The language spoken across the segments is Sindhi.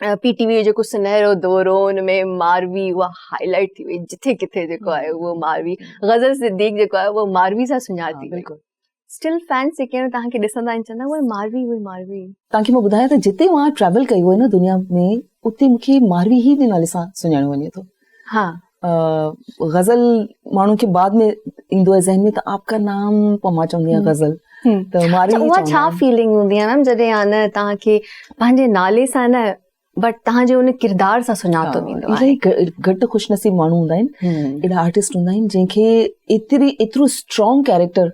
پي ٽي وي جو جيڪو سنهرو دور هو ان ۾ ماروي اها هاء لائٽ ٿي وئي جتي ڪٿي جيڪو آهي اهو ماروي غزل صديق جيڪو آهي اهو ماروي سان سڃاتي بلڪل اسٽل فينس جيڪي آهن توهان کي ڏسندا آهن چوندا اهي ماروي اهي ماروي توهان کي مان ٻڌايان ته جتي مان ٽريول ڪئي هئي نه دنيا ۾ اتي مون کي ماروي هي جي نالي سان سڃاڻيو وڃي ٿو ها غزل ماڻهن کي بعد ۾ ايندو آهي ذهن ۾ ته آپ کا نام پوء مان چوندي آهيان غزل ته ماري اها ڇا فيلنگ هوندي آهي ميم جڏهن آ نه توهان کي پنهنجي نالي سان نه بٽ توهان جي ان ڪردار سان سڃاتو ويندو آهي گهٽ خوش نصيب ماڻهو هوندا آهن اهڙا آرٽسٽ هوندا آهن جن کي ايتري ايترو اسٽرانگ ڪيريڪٽر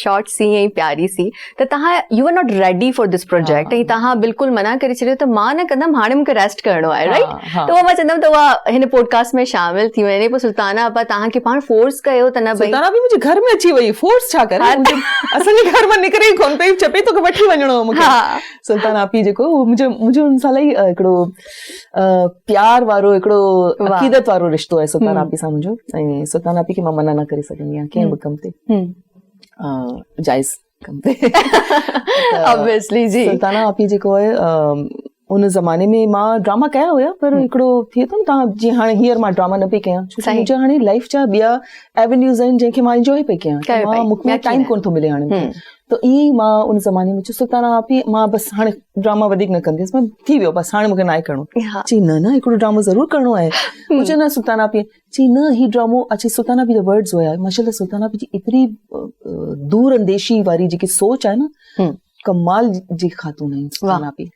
شارٽ سي ۽ پياري سي ته تهان you are not ready for this project ۽ تهان بلڪل منع ڪري ڇڏيو ته مان نه ڪندم هاڻي مونکي ريسٽ ڪرڻو آهي رائٽ ته اها مان چوندم ته اها هن پوڊڪاسٽ ۾ شامل ٿي وڃي پوء سلطانا اپا تهان کي پاڻ فورس ڪيو ته نه سلطانا به منهنجي گهر ۾ اچي وئي فورس ڇا ڪري اسان جي گهر مان نڪري ئي ڪون پئي چئي پئي توکي وٺي وڃڻو هو مونکي سلطانا اپي جيڪو منهنجو منهنجو ان سال ئي هڪڙو پيار وارو هڪڙو عقيدت وارو رشتو آهي سلطان آپي سان منهنجو ۽ سلطان آپي کي مان منع نه ڪري سگهندي آهيان ڪنهن به ڪم تي جائز ڪم تي سلطان آپي جيڪو آهي ان زماني ۾ مان ڊراما ڪيا هيا پر هڪڙو ٿئي ٿو نه جيئن هاڻي هيئر مان ڊراما نه پئي ڪيا منهنجا هاڻي لائف جا ٻيا ايونيوز آهن جنهن کي مان انجوائي پئي ڪيا ٽائيم ڪونه ٿو ملي هاڻي ته ائين ئي مان ان زماني ۾ چيو سلطان آء پي مان بس هاڻي ڊراما وڌيڪ نه ڪنديس مان ٿي ويو بس هاڻي مونکي ناهي ڪرڻو چي نه نه هڪڙو ڊرامو ضرور ڪرڻو آهي مون چيو نه سلطان آء پي چي نه هي ڊرامو اچي سلطان آء پي جا ورڊز هيا ماشاء الله سلطان آء پي جي ايتري دور انديشي واري جيڪي سوچ آهي نه ڪمال جي خاتون آهن سلطان آء پي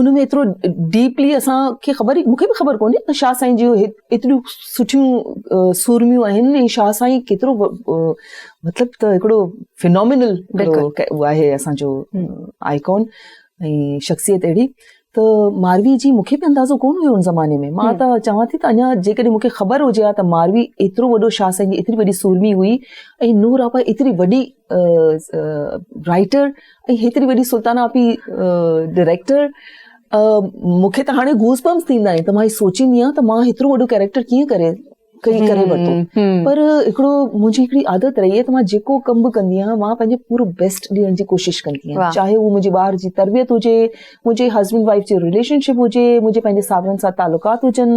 ان ۾ ايترو ڊيپلي اسان کي خبر مون کي به خبر ڪونهي ته شاهه سائين جون ايتريون سٺيون سورميون آهن ۽ شاهه سائين ڪيترو مطلب ته هڪڙو فنامنل اهو آهي اسانجو آئيڪون ۽ شخصيت اهڙي ته ماروي جي مون کي به اندازو ڪونه هيو ان زماني ۾ مان ته چوان ٿي ته اڃا جيڪڏهن مون کي خبر هجي ها ته ماروي ايترو وڏو شاهه سائين جي ايتري وڏي سورمي هئي ۽ نور آپا ايتري وڏي رائٽر ۽ هيتري وڏي سلطان آپي ڊائريڪٽر مون کي ته هاڻي گوز بمس ٿيندا آهن ته مان هي سوچيندي آهيان ته مان هيترو وڏو ڪيريڪٽر ڪيئن ڪري ڪري ڪري ورتو پر هڪڙو منهنجي هڪڙي عادت رهي ته مان جيڪو ڪم به ڪندي آهيان مان پنهنجو پورو بيسٽ ڏيڻ جي ڪوشش ڪندي آهيان چاهي هو منهنجي ٻار جي تربيت هجي منهنجي هسبينڊ وائف جي رليشنشپ هجي منهنجي پنهنجي ساورن سان تعلقات هجن